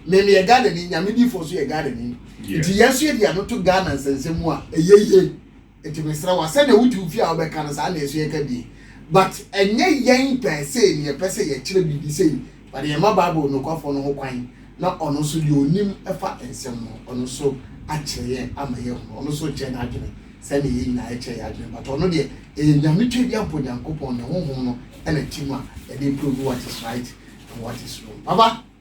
mmemme yɛ ghana ni nyame di fo so yɛ ghana ni nti yɛn nso yɛ di ano to ghana nsɛnsɛm mu a ɛyɛ yie Nti mesrɛ wo a sɛdeɛ wote wo fie a wobɛka no saa na ɛso yɛka bi but ɛnyɛ yɛn pɛɛ sei na yɛpɛ sɛ yɛkyerɛ biribi sei but yɛma bible nokwafoɔ no ho kwan na ɔno nso deɛ ɔnim fa nsɛm no ɔno nso akyerɛ yɛn ama yɛahunu ɔno nso kyerɛ n'adwene sɛdeɛ yɛn nyinaa yɛkyerɛ yɛn adwene but ɔno deɛ ɛyɛ nyame tweaduampɔ Nyankopɔn ne honhom no ɛna tim a ɛde provu what is right and what is wrong papa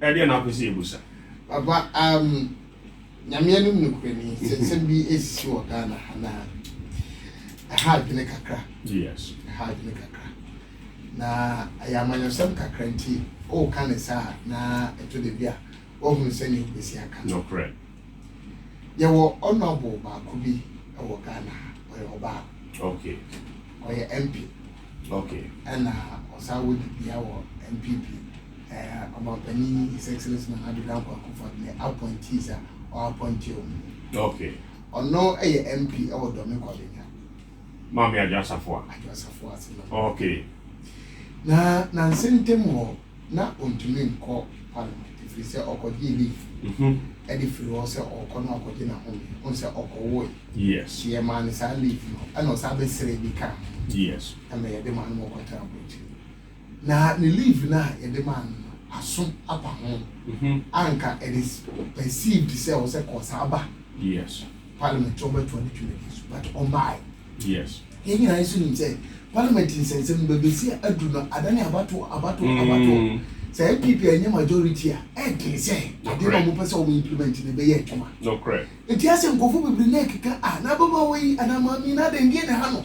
Ɛdeɛn na wopɛ sɛ yɛbusa? Papa um Nyame anim nokorɛni sɛ nsɛm bi ɛsisi wɔ Ghana ha na ɛha adwene kakra Yes ɛha adwene kakra na ɛyɛ amanyɔsɛm kakra nti woka ne saa na ɛtɔ da bi a woahunu sɛnea wobɛsi aka no Nokorɛ Yɛwɔ honourable baako bi wɔ Ghana ha ɔyɛ ɔbaa Okay ɔyɛ MP. Ok. Ɛna ɔsan wɔ dibea wɔ NPP. Ɛɛ Ɔmanpanin His Excellency Nana Addo Dankwa Akufo-Addo ne appointees a ɔappointee wɔn no. Ok. Ɔno yɛ MP wɔ Dɔme Kwabenya. Maame Adwo Asafoa. Adwo Asafoa ase. Ok. Na nansa ntam hɔ, na ontumi nkɔ parliament ɛfiri sɛ ɔkɔgyee leave de firi hɔ sɛ ɔrekɔ na wakɔgye n'ahome wohu sɛ ɔkɔwoe nti yɛmaa no saa leave no ɛna ɔsan bɛsrɛɛ bi kaa ho ɛma yɛde maa no ma ɔkɔtena aburokyire na ne leave no a yɛde maa no no aso apa ho a nka it is perceived sɛ ɔsɛ kɔ saa ba parliament sɛ ɔbɛtoa ne dwumadi so but ɔmbae Yes. Yɛn nyinaa yɛ so nim sɛ parliament nsɛnsɛm no baabi si aduru no adane abatoɔ abatoɔ abatoɔ mm. sɛ npp ɛnyɛ majority a ɛdene sɛ adeɛ na wɔpɛ sɛ wɔn implement no ɛbɛyɛ adwuma ɛti asɛ nkɔfo bebree na ɛkeka a na abɛma wɔ yi anaa maame na adɛn deɛ ne ha no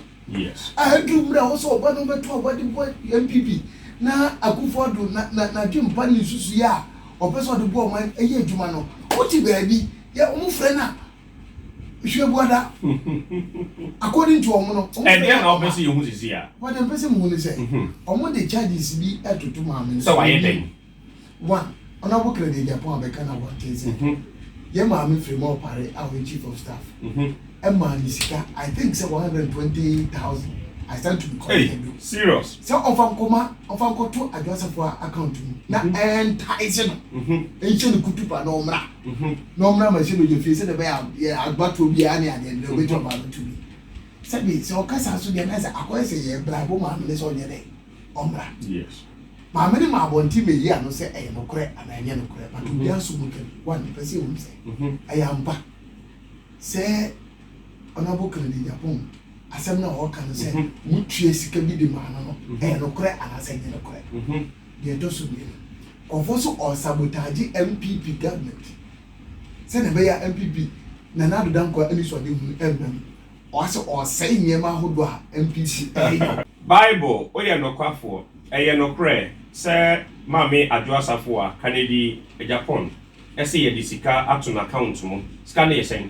a aduru mmerɛ a wɔ sɛ ɔba no bɛto aba de bɔ npp na akufo ado na na na dwe mpa ne nsusu yɛ a ɔpɛ sɛ ɔde bɔ ɔman ɛyɛ adwuma no wote baabi yɛ wɔn frɛ no a Nhwɛ buada. According to wɔn no. Ɛdeɛn na wɔpɛ sɛ yɛhu sisi a? Buada mpɛ sɛ muhu ne sɛ. Wɔn de charges bi ɛtoto maame no. Sɛ wayɛ dɛn? One, Honourable Kennedy Agyapong abɛka no abɔnten sɛ yɛn maame Frema Opare a ɔyɛ chief of staff ɛmaa ne sika I think sɛ one hundred and twenty thousand. I stand to be corrected though. Hey, serious? Sɛ ɔnfa nkɔma ɔnfa nkɔto Adwo Asafo a account mu na ɛntaese no nhyɛ ne kutupa na ɔmmra. Mhm. na ɔmmra m'ahyɛbadwa fie sɛdeɛ ɛbɛyɛ a yɛ agbatoɔ biara ne adeɛ no deɛ ɔbɛgya ɔbaa no tumi sɛbi sɛ ɔka saa so deɛ na sɛ akɔyɛ sɛ yɛ brabo maame ne sɛ ɔnyɛ dɛ ɔmmra yes maame ne ma abɔnten mɛyi ano sɛ ɛyɛ nokorɛ anaa ɛnyɛ nokorɛ but obi aso mu ka bi one mepɛ sɛ ɛhunu sɛ Mhm. ɛyɛ ampa sɛ ɔnabo kennedy nyapɔn asɛm no a ɔka no sɛ Mhm. motue sika bi de maa no no Mhm. ɛyɛ nokorɛ anaasɛ ɛnyɛ nokorɛ Mhm. Deɛ ɛtɔ so mmienu, nkurɔfoɔ nso ɔsabotaagye NPP government sɛdeɛ ɛbɛyɛ a NPP, Nana Addo Dankwa anisoadehunu remma mu. Ɔasɛ ɔresɛe nneɛma ahodoɔ a NPP reyɛ. Bible, Woyɛ nokwafoɔ. Ɛyɛ nokorɛ sɛ Maame Adwo Asafoa, Kanedi, Japan, se yɛde sika ato n'account mu. Sika no yɛ sɛn?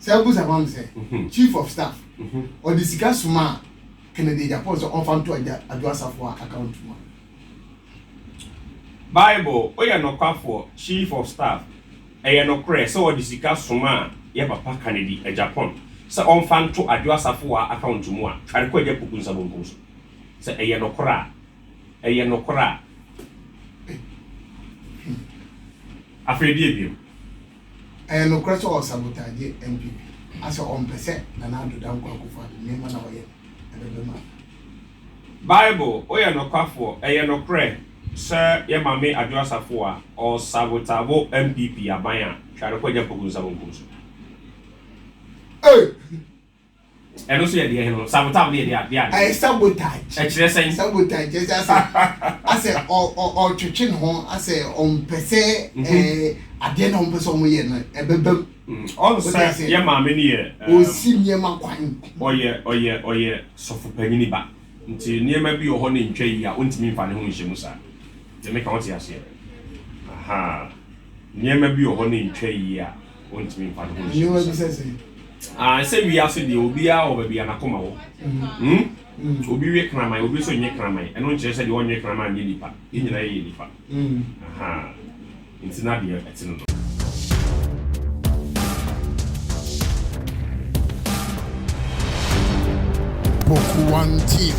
Sɛ wobusa ma me sɛ, mhm. chief of staff mhm. ɔde sika soma a Kennedy Agyapong sɛ ɔmfa nto Adwo Asafo a account mu a. Bible, woyɛ nokwafoɔ, chief of staff. Ɛyɛ nokorɛ sɛ ɔde sika soma a yɛ papa Kennedy Agyapong sɛ ɔmfa nto Adwo Asafo a account mu a tware kɔ agya puku nsa bonkum so. Sɛ ɛyɛ nokorɛ a, ɛyɛ nokorɛ a. Afei deɛ biom. Ɛyɛ nokorɛ sɛ ɔsabotaagye NPP a sɛ ɔmpɛ sɛ Nana Addo Dankwa Akufo Addo nneɛma na ɔyɛ ɛbɛba mu a. Bible, woyɛ nokwafoɔ, ɛyɛ nokorɛ sɛ yɛ Mame Adwo Asafo a ɔsabotabo NPP aban a, hwɛ ade kɔ gya mpoku nsa bonkum so. Ei! Ɛno nso yɛ deɛn no? Sabotaw no yɛ deɛn deɛn adeɛ? Ɛyɛ sabotage. Ɛkyerɛ sɛn? Sabotage kyerɛ sɛ asɛ asɛ ɔ ɔ ɔtwetwe ne ho asɛ ɔmpɛ sɛ ɛɛ adeɛ na ɔmpɛ sɛ ɔmo yɛ no ɛbɛba mu. Ɔn Wote sɛ aseɛ? yɛ maame no yɛ ɛɛm Ɔsi nneɛma kwan. ɔyɛ ɔyɛ ɔyɛ sɔfo panyini ba nti nneɛma bi wɔ hɔ na entwa yie a ontumi nfa ne ho nhyɛ mu saa. Te meka wote aseɛ? Ahaa nneɛma bi wɔ hɔ na entwa yie a. Aniwa bi sɛ sɛn? Ah, sɛ wiase deɛ obiara wɔ baabi a n'akoma wɔ. Mm. Mm. Obi we kraman, obi nso nye kraman. Ɛno nkyerɛ sɛ deɛ ɔnwe kraman nyɛ nipa. Yɛn nyinaa yɛyɛ nipa. Mm. Aha. Nti na deɛ ɛte no no. Boku One TV.